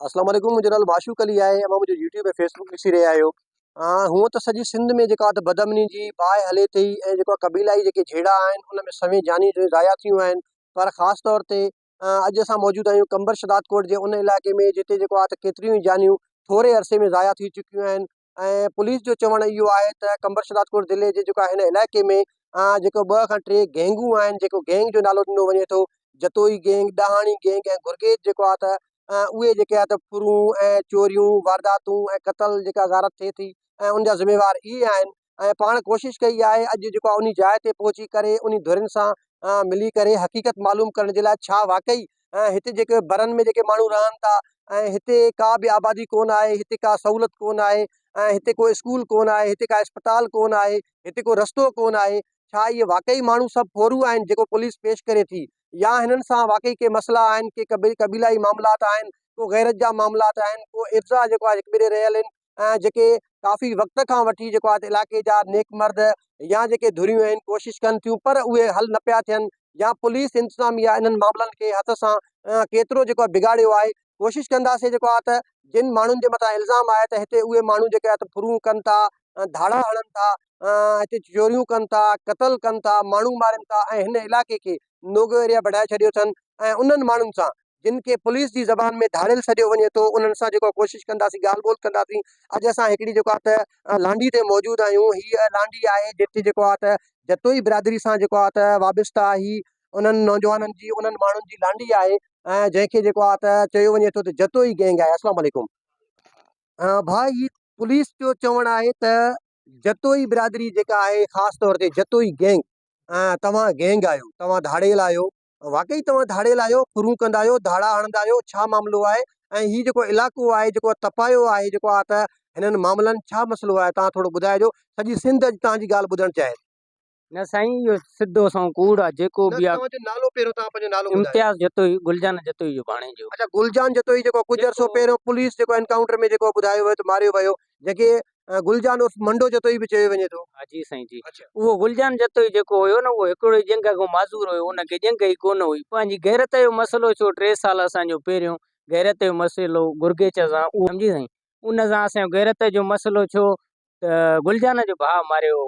السلام عليڪم منهنجو نالو معشوق علي آهي اوهان منهنجو يوٽيوب ۽ فيسبڪ ڏسي رهيا آهيو هونء ته سڄي سنڌ ۾ جيڪا ته بدامني جي باهه هلي ٿي ۽ جيڪا قبيلائي جيڪي جهيڙا آهن ان ۾ سوين جانيون جون ضايع ٿيون آهن پر خاص طور تي اڄ اسان موجود آهيون قمبر شهدادڪوٽ جي ان علائقي ۾ جتي جيڪو آهي ته ڪيتريون ئي جانيون ٿوري عرصي ۾ ضايع ٿي چڪيون آهن ۽ پوليس جو چوڻ اهو آهي ته قمبر شهدادپور ضلعي جي جيڪو هن علائقي ۾ جيڪو ٻه کان ٽي گينگون آهن جيڪو گينگ جو نالو ڏنو وڃي ٿو جتوئي گينگ ڏاهاڻي گينگ ۽ گرگيج جيڪو آهي ته اهي جيڪي آهي ته ڦرون ۽ چوريون وارداتون ۽ قتل جيڪا غارت ٿئي ٿي ۽ ان جا ذميوار اهي آهن ۽ پاڻ ڪوشش ڪئي آهي اڄ جيڪو آهي ان جاء تي پهچي ڪري ان ڌرين سان ملي ڪري حقيقت معلوم ڪرڻ جي لاء ڇا واقعي ۽ هتي جيڪي برن ۾ جيڪي ماڻهو رهن ٿا ۽ هتي ڪا به آبادي ڪونه آهي هتي ڪا سهولت ڪونه آهي ۽ هتي ڪو اسڪول ڪونه آهي هتي ڪا اسپتال ڪونه آهي هتي ڪو رستو ڪونه آهي ڇا اهي واقعي ماڻهو سڀ ڦورو آهن جيڪو پوليس پيش ڪري ٿي يا هنن سان واقعي ڪي مسئلا آهن ڪي قبيلائي معاملات آهن ڪو غيرت جا معاملات آهن ڪو افزا جيڪو آهي هڪٻئي ڏي رهيل آهن ۽ جيڪي ڪافي وقت کان وٺي جيڪو آهي علاقي جا نيڪ مرد يا جيڪي ڌريون آهن ڪوشش ڪن ٿيون پر اهي حل نه پيا ٿين يا پوليس انتظاميا انهن معاملن کي هٿ سان ڪيترو جيڪو آهي بگاڙيو آهي ڪوشش ڪنداسين جيڪو آهي ته جن ماڻهن جي مٿان الزام آهي ته هتي اهي ماڻهو جيڪي آهي ته ڦرون ڪن ٿا ڌاڙا هڻن ٿا هتي چوريون ڪن ٿا قتل ڪن ٿا ماڻهو مارين ٿا ۽ هن علاقي کي نوگو ايريا بڻائي ڇڏيو اٿن ۽ انهن ماڻهن سان جن کي پوليس جي زبان ۾ ڌاڙيل سڏيو وڃي ٿو انهن سان جيڪو ڪوشش ڪنداسين ڳالهه ٻولهه ڪنداسين اڄ اسان هڪڙي جيڪو آهي ته لانڍي تي موجود آهيون هي لانڍي آهي جتي جيڪو آهي ته جتوئي برادري سان جيڪو آهي ته وابسته آهي هي انهن نوجوانن جي انهن ماڻهن جي لانڍي آهي ۽ جنهن کي جيڪو آهي ته چيو وڃي ٿو ته جتوئي گينگ آهي السلام عليڪم ڀاء هي پوليس جو چوڻ آهي ته جتوئي برادري جيڪا آهي خاص طور تي جتوئي گينگ توهان گينگ آهيو توهان ڌاڙيل آهيو واقعي توهان ڌاڙيل آهيو، ڦرون ڪندا آهيو، ڌاڙا هڻندا آهيو، ڇا معاملو آهي ۽ هي جيڪو علائقو آهي، جيڪو تپايو آهي جيڪو آ ته هنن معاملن ڇا مسئلو آهي توهان ٿورو ٻڌائجو، سڄي سنڌ اڄ توهان جي ڳالهه ٻڌڻ چاهي ٿي. نه سائين اهو سڌو سنئون ڪوڙ آ جيڪو به آ. توهان جو نالو پهريون توهان پنهنجو نالو ٻڌايو. امتياز جتوئي گلجان جتوئي جو ڀاڻيجو. اڇا گلجان جتوئي جيڪو ڪجهه عرصو پهريون پوليس جيڪو انڪائونٽر ۾ جيڪو ٻڌايو ويو ته ماريو ويو جيڪي گل جان عرف منڊو جتوئي به چيو وڃي ٿو. ها جي سائين جي اهو گل جان جتوئي جيڪو هيو نه اهو هڪڙو ئي ڄنگهه کان معذور هيو ان کي ڄنگهه ئي ڪونه هئي پنهنجي غيرت جو مسئلو ڇو ٽي سال اسان جو پهريون غيرت جو مسئلو گرگيچ سان اهو سمجهي سائين ان سان اسان جو غيرت جو مسئلو ڇو ته گل جان جو ڀاء ماريو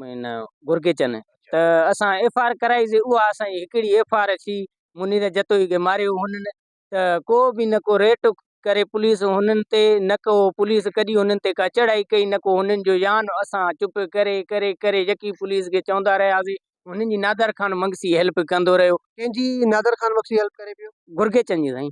هن گرگيچن ته اسان ايف آر ڪرائي سي اها اسان جي هڪڙي ايف آر ڇي منير جتوئي کي ماريو هنن ته ڪو به نه ڪو ريٽ ڪري پوليس هنن تي نه ڪو پوليس ڪڏي هنن تي ڪا چڙهائي ڪئي نه ڪو هنن جو يان اسان چپ ڪري ڪري ڪري يڪي پوليس کي چوندا رهياسين هنن جي نادر خان مگسي هيلپ ڪندو رهيو. ڪنهن جي نادر خان مگسي هيلپ ڪري پيو؟ گرگيچن جي سائين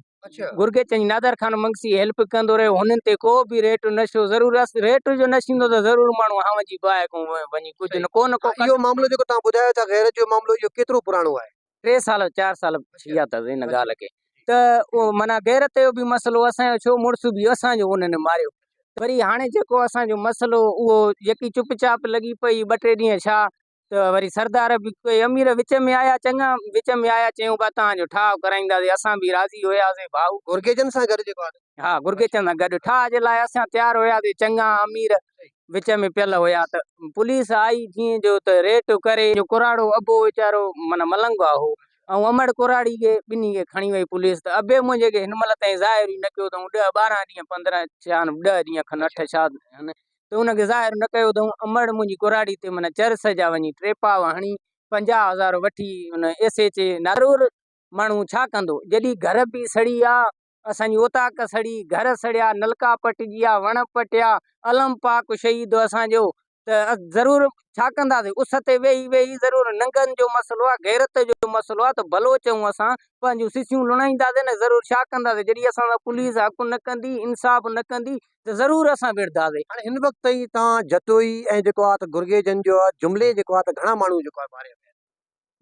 گرگيچن جي نادر خان مگسي هيلپ ڪندو رهيو هنن تي ڪو به ريٽ نه شو ضرور اس ريٽ جو نه شيندو ته ضرور ماڻهو هانون جي باهه ڪون وڃي ڪجهه نه ڪو نه ڪو ڪري. اهو معاملو جيڪو توهان ٻڌايو ٿا غيرت جو معاملو اهو ڪيترو پراڻو آهي؟ ٽي سال چار سال ٿي ويا اٿس ان ڳالهه کي ته اهو معنيٰ غيرت جو به مسئلو اسان جو ڇو مڙس به اسان جو انهن ماريو وري هاڻي جيڪو اسان جو مسئلو اهو يڪي چپ چاپ لڳي پئي ٻه ٽي ڏينهن ڇا ته وري سردار به ڪي امير وچ ۾ آيا چڱا وچ ۾ آيا چيون ڀا توهان جو ٺاهه ڪرائينداسين اسان به راضي هياسين ڀائو گرگيجن سان گڏ جيڪو آهي ها گرگيجن سان گڏ ٺاهه جي لاء اسان تيار هياسين چڱا امير وچ ۾ پيل هيا ته پوليس آئي جيئن جو ته ريٽ ڪري جو ڪراڙو ابو ويچارو معنيٰ ملنگوا هو ۽ امڙ ڪراڙي کي ٻنهي کي کڻي وئي پوليس ته ابي منهنجي کي هن مهل تائين ظاهر ئي نه ڪيو اٿئون ڏهه ٻارهن ڏينهن پندرهن ڇا ڏهه ڏينهن کن اٺ ڇا هن ته ان کي ظاهر نه ڪيو اٿئون امڙ منهنجي ڪراڙي تي معنيٰ چرس جا وڃي ٽيپاو هڻي پنجاهه هزار وٺي ان ايس ايڇ اي نارور ماڻهو ڇا ڪندو جڏهن گهر به سڙي آ اسان جي اوطاق سڙي، گهر سڙيا، نلڪا پٽجيا، وڻ پٽيا، الم پاڪ شهيد اسان جو ته ضرور ڇا ڪنداسين، اس تي ويهي ويهي ضرور ننگن جو مسئلو آ، غيرت جو مسئلو آ ته ڀلو چئون اسان پنهنجون سسيون لڻائينداسين نه ضرور ڇا ڪنداسين جڏهن اسان سان پوليس حق نه ڪندي، انصاف نه ڪندي ته ضرور اسان وڙهنداسين. هاڻي هن وقت تائين تان جتوئي ۽ جيڪو آ ته گرگيجن جو جملي جيڪو آ ته گهڻا ماڻهو جيڪو آ ماريا ويا.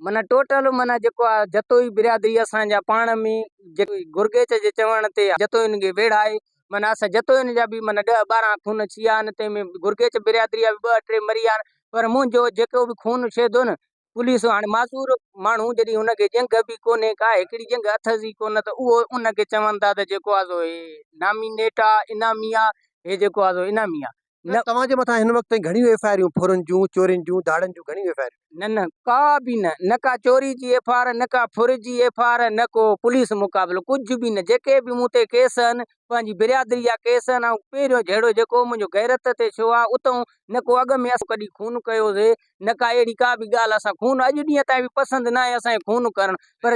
معنيٰ ٽوٽل معنيٰ جيڪو آ جتوئي برادري اسان جا پاڻ ۾ گرگيچ جي چوڻ تي جتوئين کي ويڙهه آهي معنيٰ اسان جتوئين جا به معنيٰ ڏهه ٻارهن خون ڇي آهن تنهن ۾ گرگيچ برادري جا به ٻه ٽي مري ويا آهن پر منهنجو جيڪو به خون ڇي ٿو نه پوليس هاڻي معذور ماڻهو جڏهن ان کي جنگ به ڪونهي ڪا هڪڙي جنگ اٿس ئي ڪونه ته اهو ان کي چون ٿا ته جيڪو آ سو هي نامينيٽ آ انعامي آ هي جيڪو آ سو انعامي آ نه توهان جي مٿان هن وقت تائين گهڻيون ايف آء آريون ڦرن جون چورين جون ڌاڙن جون گهڻيون ايف آء آريون. نه نه ڪا به نه نه ڪا چوري جي ايف آء آر نه ڪا ڦر جي ايف آء آر نه ڪو پوليس مقابلو ڪجهه به نه جيڪي به مون تي ڪيس آهن پنهنجي برادري جا ڪيس آهن آئون پهريون جهيڙو جيڪو منهنجو غيرت تي ڇو آهي اتئون نه ڪو اڳ ۾ اسان ڪڏهن خون ڪيو هوسي نه ڪا اهڙي ڪا به ڳالهه اسان خون اڄ ڏينهن تائين به پسند ناهي اسان کي خون ڪرڻ پر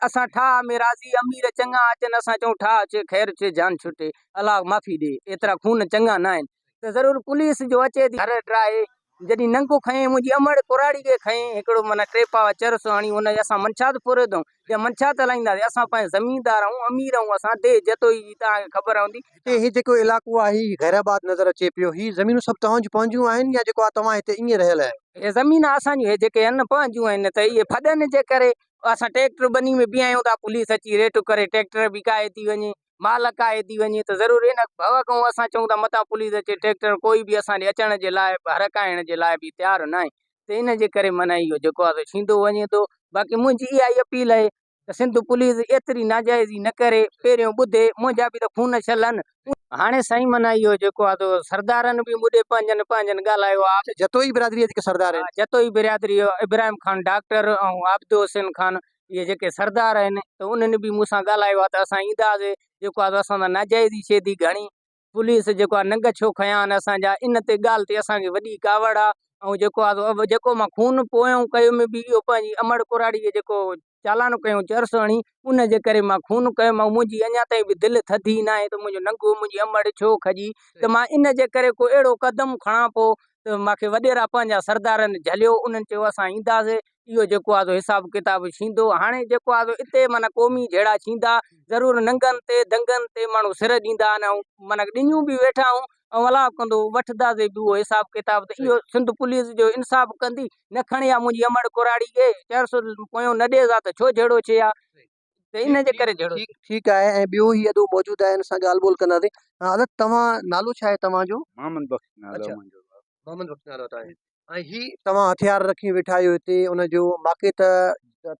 اسان ٺاهه ۾ راضي امير چڱا اچن اسان چئون ٺاهه اچي خير اچي جان ڇٽي الله معافي ڏي ايترا خون چڱا ناهن ته ضرور پوليس جو اچي ٿي گهر ڊراهي جڏهن ننگو کنئين منهنجي امڙ ڪراڙي کي کنئين هڪڙو معنيٰ ٽي پاء چرس هڻي ان جي اسان منشاد پوريو اٿئون. يا منشا ته هلائيندا ويا اسان پنهنجا زميندار آهيون امير آهيون اسان ديهه جتوئي جي توهان کي خبر هوندي ۽ هي جيڪو علائقو آهي هي غير آباد نظر اچي پيو هي زمينون سڀ توهان جون پنهنجون آهن يا جيڪو آهي توهان هتي ائين رهيل آهيو. اهي زمينا اسان جون هي جيڪي آهن نه پنهنجون آهن نه ته اهي ڦڏن جي ڪري اسان ٽيڪٽر ٻني ۾ بيهايون ٿا پوليس اچي ريٽ ڪري ٽيڪٽر بي ڪاهي ٿي وڃي مال اڪاهي ٿي وڃي ته ضرور ان ڀؤ کان اسان چئون ٿا متان پوليس اچي ٽريڪٽر ڪوئي به اسان ڏي اچڻ جي لاء هرکائڻ جي لاء به تيار ناهي ته ان جي ڪري معنيٰ اهو جيڪو آهي سو ڇيندو وڃي ٿو باقي منهنجي اها ئي اپيل آهي ته سنڌ پوليس ايتري ناجائزي نه ڪري پهريون ٻڌي منهنجا به ته خون ڇلن هاڻي سائين معنيٰ اهو جيڪو آهي سو سردارن به مون ڏي پنهنجن پنهنجن ڳالهايو آهي. جتوئي برادري جا جيڪي سردار آهن. جتوئي برادري ابراهيم خان ڊاڪٽر ۽ عابد حسين خان اهي جيڪي سردار آهن ته انهن به مون سان ڳالهايو آهي ته اسان اينداسين جيڪو آهي اسان سان ناجائز ئي شي ٿي گهڻي پوليس جيڪو آهي ننگ ڇو کنيا آهن اسان جا ان تي ڳالهه تي اسان کي وڏي ڪاوڙ آهي ۽ جيڪو آهي جيڪو مان خون پويون ڪيو ۾ به اهو پنهنجي امڙ ڪراڙي جيڪو چالان ڪيون چرس هڻي ان جي ڪري مان خون ڪيو مان منهنجي اڃا تائين به دل ٿڌي ناهي ته منهنجو ننگو منهنجي امڙ ڇو کڄي ته مان ان جي ڪري ڪو اهڙو قدم کڻان پو ته مون کي وڏيرا پنهنجا سردارن جهليو انهن چيو اسان اينداسين اهو جيڪو آهي سو حساب ڪتاب ڇيندو. هاڻي جيڪو آهي سو اتي معنيٰ قومي جهيڙا ڇيندا. ضرور ننگن تي دنگن تي ماڻهو سر ڏيندا آهن ۽ معنيٰ ڏڃون به ويٺا آهون ۽ الله ڪندو وٺنداسي به اهو حساب ڪتاب ته اهو سنڌ پوليس جو انصاف ڪندي نه کڻي ها منهنجي امڙ ڪراڙي ڪي چانسر پويون نه ڏي ها ته ڇو جهيڙو ڇي ها. ان جي ڪري جھڙو ٿيو. ٺيڪ آهي ۽ ٻيو هي ادو موجود آهي ان سان ڳالهه ٻولهه ڪنداسين حضرت توهان نالو ڇا آهي توهان جو. محمد بخش نالو آهي منهنجو. محمد بخش نالو آهي توهان جو ۽ هي توهان هٿيار رکي ويٺا آهيو هتي ان جو واقعي ته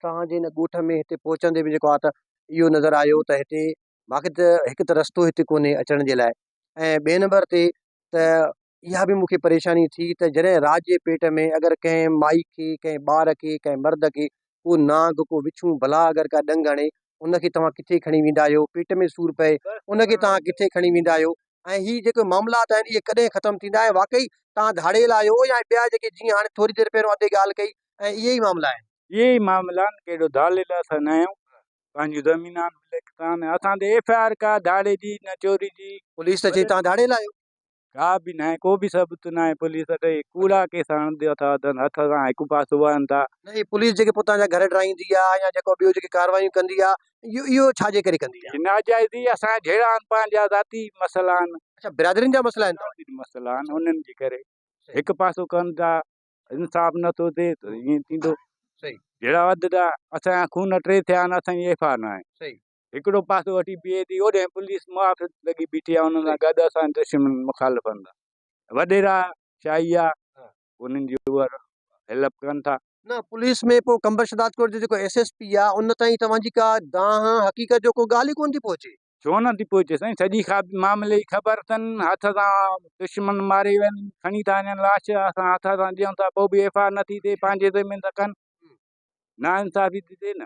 توهان جي ان ڳوٺ ۾ هتي پهچندي به جيڪو آ ته اهو نظر آيو ته هتي واقعي ته هڪ ته رستو هتي ڪونهي اچڻ جي لاء ۽ ٻئي نمبر تي ته اها به مون کي پريشاني ٿي ته جڏهن رات جي پيٽ ۾ اگر ڪنهن مائي کي، ڪنهن ٻار کي، ڪنهن مرد کي ڪو نانگ، ڪو وڇون، ڀلا اگر ڪا ڏنگ هڻي، ان کي توهان ڪٿي کڻي ويندا آهيو؟ پيٽ ۾ سور پئي، ان کي توهان ڪٿي کڻي ويندا آهيو؟ ۽ هي جيڪي معاملات آهن، اهي ڪڏهن ختم ٿيندا؟ ۽ واقعي توهان ڌاڙيل آهيو يا ٻيا جيڪي جيئن هاڻي ٿوري دير پهريون ادي ڳالهه ڪئي ۽ اهي ئي معاملا آهن؟ اهي ئي معاملا آهن، ڪهڙو ڌاڙيل اسان نه آهيون، پنهنجون زمينان ملڪ تان، اسان تي ايف آء آر ڪا ڌاڙي جي نه چوري جي. پوليس ته چئي توهان ڌاڙيل آهيو. ڪا به ناهي ڪو به ثبوت ناهي پوليس اٿئي ڪوڙا ڪيس هڻندي اٿا اٿن هٿ سان هڪ پاسو وهن ٿا. نه هي پوليس جيڪي پوتان جا گهر ڊاهيندي آ يا جيڪو ٻيو جيڪي ڪاروايون ڪندي آ اهو اهو ڇا جي ڪري ڪندي آ. ناجائزي اسان جا جهيڙا آهن پنهنجا ذاتي مسئلا آهن. اڇا برادرين جا مسئلا آهن. ذاتي مسئلا آهن انهن جي ڪري هڪ پاسو ڪن ٿا انصاف نه ٿو ٿئي ته ائين ٿيندو جهيڙا وڌندا اسان جا خون ٽي ٿيا آهن اسان جي ايف آر ناهي هڪڙو پاسو هٽي بيهي ٿي، اوڏهين پوليس محافظ لڳي بيٺي آهي انهن سان گڏ اسان جي دشمن مخالفن سان وڏيرا شاهي آهي انهن جي اهي هيلپ ڪن ٿا. نه پوليس ۾ پوء قمبر شهدادڪوٽ جو جيڪو ايس ايس پي آهي ان تائين توهان جي ڪا دانهن حقيقت جو ڪو ڳالهه ئي ڪونه ٿي پهچي. ڇو نه ٿي پهچي سائين سڄي معاملي جي خبر اٿن هٿ سان دشمن ماري وين کڻي ٿا وڃن لاش اسان هٿ سان ڏيون ٿا پوء به ايف آء آر نه ٿي ٿئي پنهنجي زمين ته ڪن نا انصافي ٿي ٿئي نه.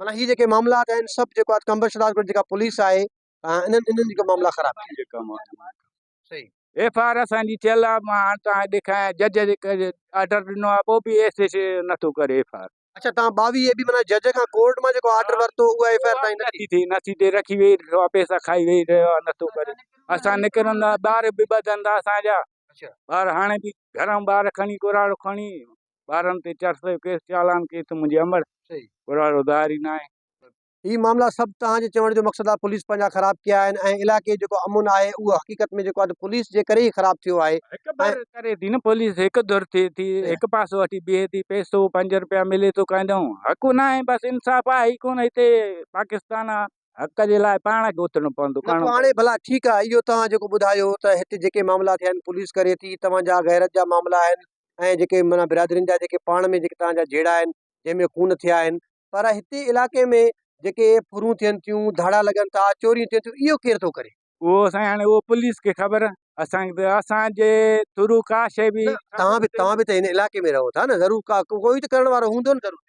معنيٰ هي جيڪي معاملا آهن سڀ جيڪو آهي قمبر شهداد ڳوٺ جيڪا پوليس آهي انهن انهن جيڪا معاملا خراب آهن ڪي ڪم آهن صحيح ايف آر اسان جي ٿيل آهي مان هاڻ توهان کي ڏيکاريان جج جي آرڊر ڏنو آهي پوء به ايس ايس نٿو ڪري ايف آر اڇا توهان 22 اي بي معنيٰ جج کان ڪورٽ مان جيڪو آرڊر ورتو اها ايف آر تائين نه نٿي ٿي نٿي ٿي رکي ويهي رهيو آهي پئسا کائي ويهي رهيو آهي نٿو ڪري اسان نڪرندا ٻار به ٻڌندا اسان جا اڇا ٻار هاڻي به گهران ٻار کڻي ڪراڙو کڻي ٻارن تي چار سؤ جو ڪيس چالان ڪيس ته منهنجي امڙ گهروارو ظاهر ئي ناهي. هي معاملا سڀ توهان جي چوڻ جو مقصد آهي پوليس پنهنجا خراب ڪيا آهن ۽ علائقي جيڪو امن آهي اهو حقيقت ۾ جيڪو آهي پوليس جي ڪري ئي خراب ٿيو آهي هڪ ڌر ڪري ٿي نه پوليس هڪ ڌر ٿئي ٿي هڪ پاسو وٺي بيهي ٿي پئسو پنج رپيا ملي ٿو ڪنهن ڏانهن حق ناهي بس انصاف آهي ئي ڪونه هتي پاڪستان آهي حق جي لاء پاڻ کي اٿڻو پوندو نه پوء هاڻي ڀلا ٺيڪ آهي اهو توهان جيڪو ٻڌايو ته هتي جيڪي معاملا ٿيا آهن پوليس ڪري ٿي توهان جا غيرت جا معاملا آهن ۽ جيڪي معنيٰ برادرين جا جيڪي پاڻ ۾ جيڪي تان جا جهيڙا آهن جنهن ۾ خون ٿيا آهن پر هتي علائقي ۾ جيڪي ڦرون ٿين ٿيون ڌاڙا لڳن ٿا چوريون ٿين ٿيون اهو ڪير ٿو ڪري؟ اهو سائين هاڻي اهو پوليس کي خبر اسان کي اسان جي ٿرو ڪا شي به توهان به توهان به ته هن علائقي ۾ رهو ٿا نه ضرور ڪا ڪوئي ته ڪرڻ وارو هوندو نه ضرور.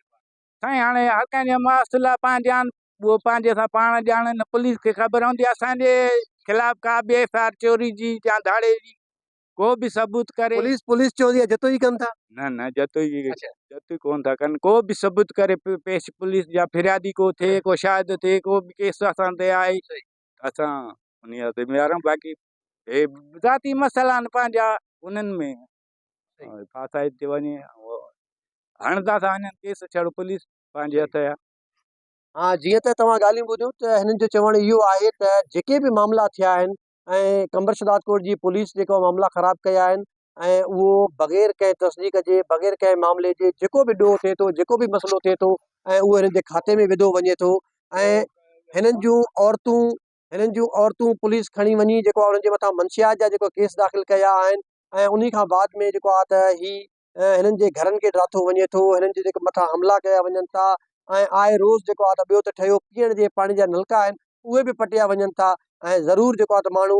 سائين هاڻي هر ڪنهن جا ماصلا پنهنجا آهن اهو پنهنجي سان پاڻ ڄاڻن پوليس کي خبر هوندي اسان جي خلاف ڪا به ايف آر چوري جي يا ڌاڙي جي ڪو به ثبوت ڪري. پوليس پوليس چوندي آهي جتوئي ڪن ٿا. نه نه جتوئي جتوئي ڪون ٿا ڪن ڪو به ثبوت ڪري پيش پوليس جا فريادي ڪو ٿئي ڪو شاهد ٿئي ڪو به ڪيس اسان تي آهي اسان انهي جا ذميوار آهيون باقي هي ذاتي مسئلا آهن پنهنجا انهن ۾ ڦاسائي ٿي وڃي هڻندا ٿا وڃن ڪيس ڇڙو پوليس پنهنجي هٿ جا ها جيئن ته توهان ڳالهيون ٻڌيون ته هنن جو چوڻ اهو آهي ته جيڪي به معاملا ٿيا آهن ۽ قمبر شهداد ڪوٽ جي پوليس جيڪا معاملا خراب ڪيا آهن ۽ اهو بغير ڪنهن تصديق جي بغير ڪنهن معاملي جي جيڪو به ڏوهه ٿئي ٿو جيڪو به مسئلو ٿئي ٿو ۽ اهو هنن جي کاتي ۾ وڌو وڃي ٿو ۽ هنن جون عورتون هنن جون عورتون پوليس کڻي وڃي جيڪو انهن جي مٿان منشيات جا جيڪو ڪيس داخل ڪيا آهن ۽ انهي کان بعد ۾ جيڪو آ ته هي ۽ هنن جي گهرن کي ڊاٿو وڃي ٿو، هنن جي جيڪي مٿان حملا ڪيا وڃن ٿا ۽ آء روز جيڪو آ ته ٻيو ته ٺهيو پيئڻ جي پاڻي جا نلڪا آهن اهي به پٽيا وڃن ٿا ۽ ضرور جيڪو آ ته ماڻهو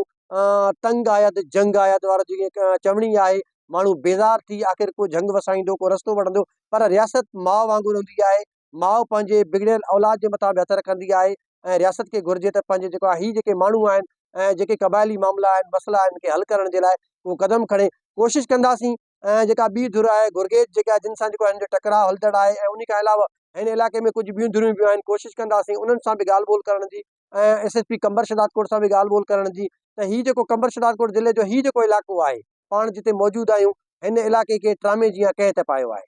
تنگ آيا ته جنگ آيا ته وارو جيڪي چوڻي آهي ماڻهو بيزار ٿي آخر ڪو جهنگ وسائيندو ڪو رستو وٺندو پر رياست ماء وانگر هوندي آهي ماء پنهنجي بگڙيل اولاد جي مٿان به هٿ رکندي آهي ۽ رياست کي گهرجي ته پنهنجي جيڪو آ هي جيڪي ماڻهو آهن ۽ جيڪي قبائلي معاملا آهن مسئلا آهن ان کي حل ڪرڻ جي لاء ڪو قدم کڻي ڪوشش ڪنداسين ۽ جيڪا ٻي ڌر آهي گرگيج جيڪا جن سان جيڪو هن جو ٽڪراء هلندڙ آهي ۽ ان کان علاوه هن علائقي ۾ ڪجهه ٻيون ڌريون به آهن ڪوشش ڪنداسين انهن سان به ڳالهه ٻولهه ڪرڻ جي ۽ S S P Qambar Shahdadkot سان به ڳالهه ٻولهه ڪرڻ جي ته هي جيڪو قمبر شهداد ڪوٽ ضلعي جو هي جيڪو علائقو آهي پاڻ جتي موجود آهيون هن علائقي کي ٽرامي جيان ڪنهن ته پايو آهي.